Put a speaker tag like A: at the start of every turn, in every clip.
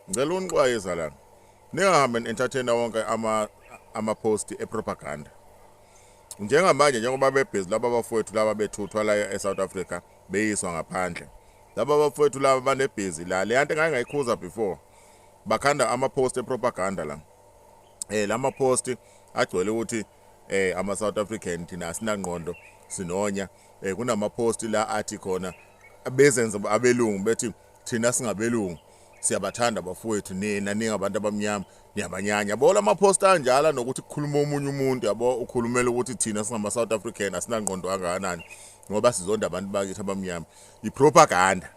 A: Ngicela unixwayisa lana. Ningahambe entertainer wonke ama ama post e propaganda. Njengamanje njengoba bebhizi laba bafowethu laba bethuthwa la e South Africa beyiswa ngaphandle. Laba bafowethu laba banebhizi la. Le yanto ngake ngayikhuza before. Bakhanda ama post e propaganda la. Eh lama post agcwele ukuthi eh ama South African thina sinangqondo sinonya eh kunama post la athi khona abezenza abelungu bethi thina singabelungu siyabathanda bafowethu nina ningabantu abamnyama niyabanyanya yabo la maphosta anjalo nokuthi kukhuluma omunye umuntu yabo ukhulumela ukuthi thina singama-south african asinangqondo kangakanani ngoba sizonda abantu bakithi abamnyama yipropaganda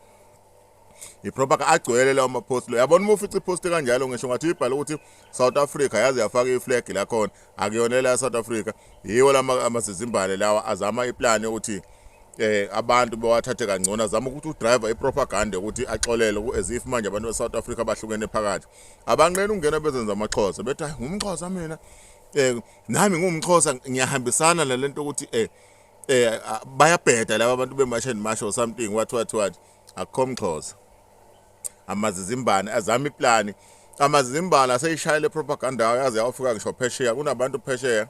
A: yipropaganda agcwele lawo maphosti lo yabona uma ufica iphosti kanjalo ngisho ngathi uyibhale ukuthi South Africa yaze yafaka iflag lakhona akuyona la South Africa yiwo lama amazizimbane lawa azama iplan yokuthi eh abantu bewathathe kangcono azama ukuthi udriver ipropaganda ukuthi axolele ku as if manje abantu beSouth Africa bahlukene phakathi abanqena ukungena bezenza amaxhosa bethi hayi ngumxhosa mina eh nami ngumxhosa ngiyahambisana nalento ukuthi eh eh bayabheda laba abantu bemasheni masho something what what what akukho mxhosa amazizimbane azama iplani amazizimbane aseyishayele propaganda yawo yaze yawafika ngisho phesheya kunabantu phesheya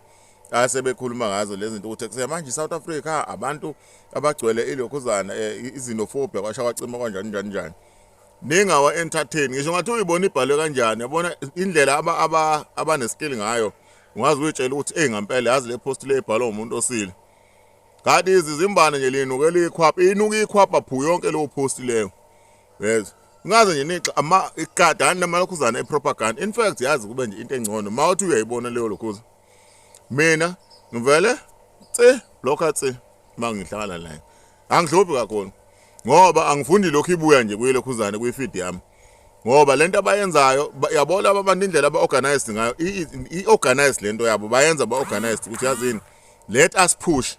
A: asebekhuluma ngazo lezi zinto ukuthi kuse manje South Africa abantu abagcwele ilokhuzana eh, izinofobia kwasha kwacima kanjani njani njani ningawa entertain ngisho ngathi uyibona ibhalwe kanjani yabona indlela aba aba abaneskill ngayo ungazi uyitshela ukuthi hey ngampela yazi le post le ibhalwa umuntu osile Kanti izizimbane nje linukela ikhwapha, inuka ikhwapha phu yonke leyo post leyo. Yes. Ngaze nje nixa ama ikadani namalokhuzana epropaganda. In fact yazi kube nje into engcono. Mawuthi uyayibona leyo lokhuza. Mina ngivele tse blokha tse mangihlala la. Angihluphi kakhulu. Ngoba angifundi lokho ibuya nje kuye lokhuzane kuyi feed yami. ngoba lento abayenzayo yabona abantu indlela aba-organized ngayo i-organized lento yabo bayenza ba-organized ukuthi yazini Let us push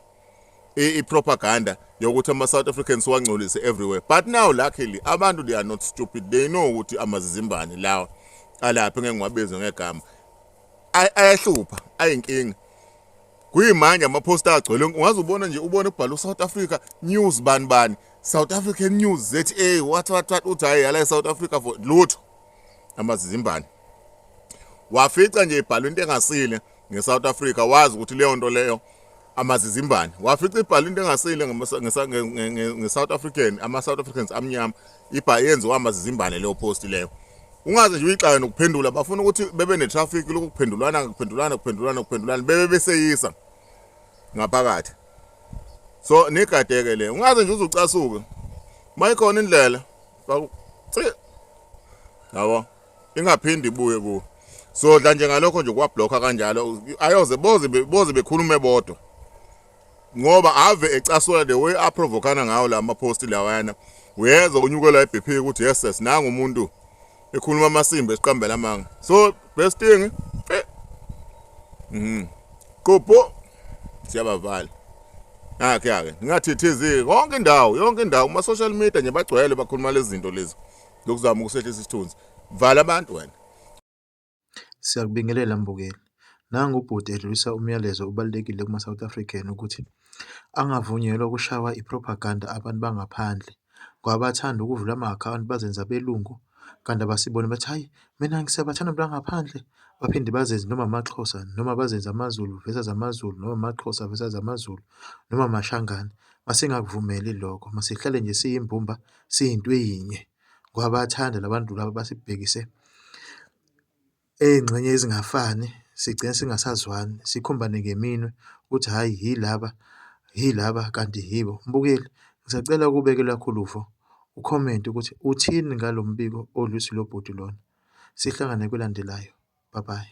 A: i-propaganda yokuthi ama-south africans wangcolise everywhere but now luckily abantu they are not stupid they know ukuthi amazizimbane lawa alaphi ngeke ngiwabize ngegama ayahlupha ayinkinga kuyimanje amaphosta agcwele ungaze ubona nje ubone kubhala u-south africa news bani bani south african news za what what what uthi hhayi yala e-south africa for lutho amazizimbane wafica nje ibhalwe into engasile ngeSouth Africa wazi ukuthi leyo nto leyo amazizimbane wafica ibhala into engasile ngeSouth African ama-South Africans amnyama ibha yenziwa amazizimbane leyo post leyo ungaze nje uyixaye nokuphendula bafuna ukuthi bebe ne-traffic lokuphendulana kuphendulana kuphendulana kuphendulana bebe beseyisa ngaphakathi so nigadeke le ungaze nje uzucasuke mayikhona indlela yabo ingaphindi ibuye kuwe sodla nje ngalokho nje kwablokha kanjalo ayoze boze boze bekhulume bodwa ngoba ave ecasula the way aprovokana ngawo la mapost lawana uyezwa unyukela iBP ukuthi yes yes nangu umuntu ekhuluma amasimba esiqambela amanga so best thing eh mhm qopho siyabavala akhe ake ngathithiziki konke indawo yonke indawo kuma social media nje bagcwele bakhuluma lezi zinto lezi lokuzama ukusehlisa isithunzi vala abantu wena siyakubingelela
B: mbukeli nangu ubhuti edlulisa umyalezo obalulekile kuma South African ukuthi angavunyelwa ukushawa ipropaganda abantu bangaphandle kwabathanda ukuvula ama account bazenza belungu kanti abasiboni bathi hayi mina ngisebathanda abantu bangaphandle baphinde bazenze noma amaXhosa noma bazenze amaZulu versus amaZulu noma amaXhosa versus amaZulu noma amashangane masingakuvumeli lokho masihlale nje siyimbumba siyinto eyinye ngoba bayathanda la bantu laba basibhekise ey'ngxenye ezingafani sigcine singasazwani sikhombane ngeminwe ukuthi hhayi yilaba yilaba kanti yibo. Mbukeli, ngisacela ukubeke olwakho uluvo ukhomente ukuthi uthini ngalo mbiko odlule usihlokubhuti lona. Sihlangane kwelandelayo, bye bye.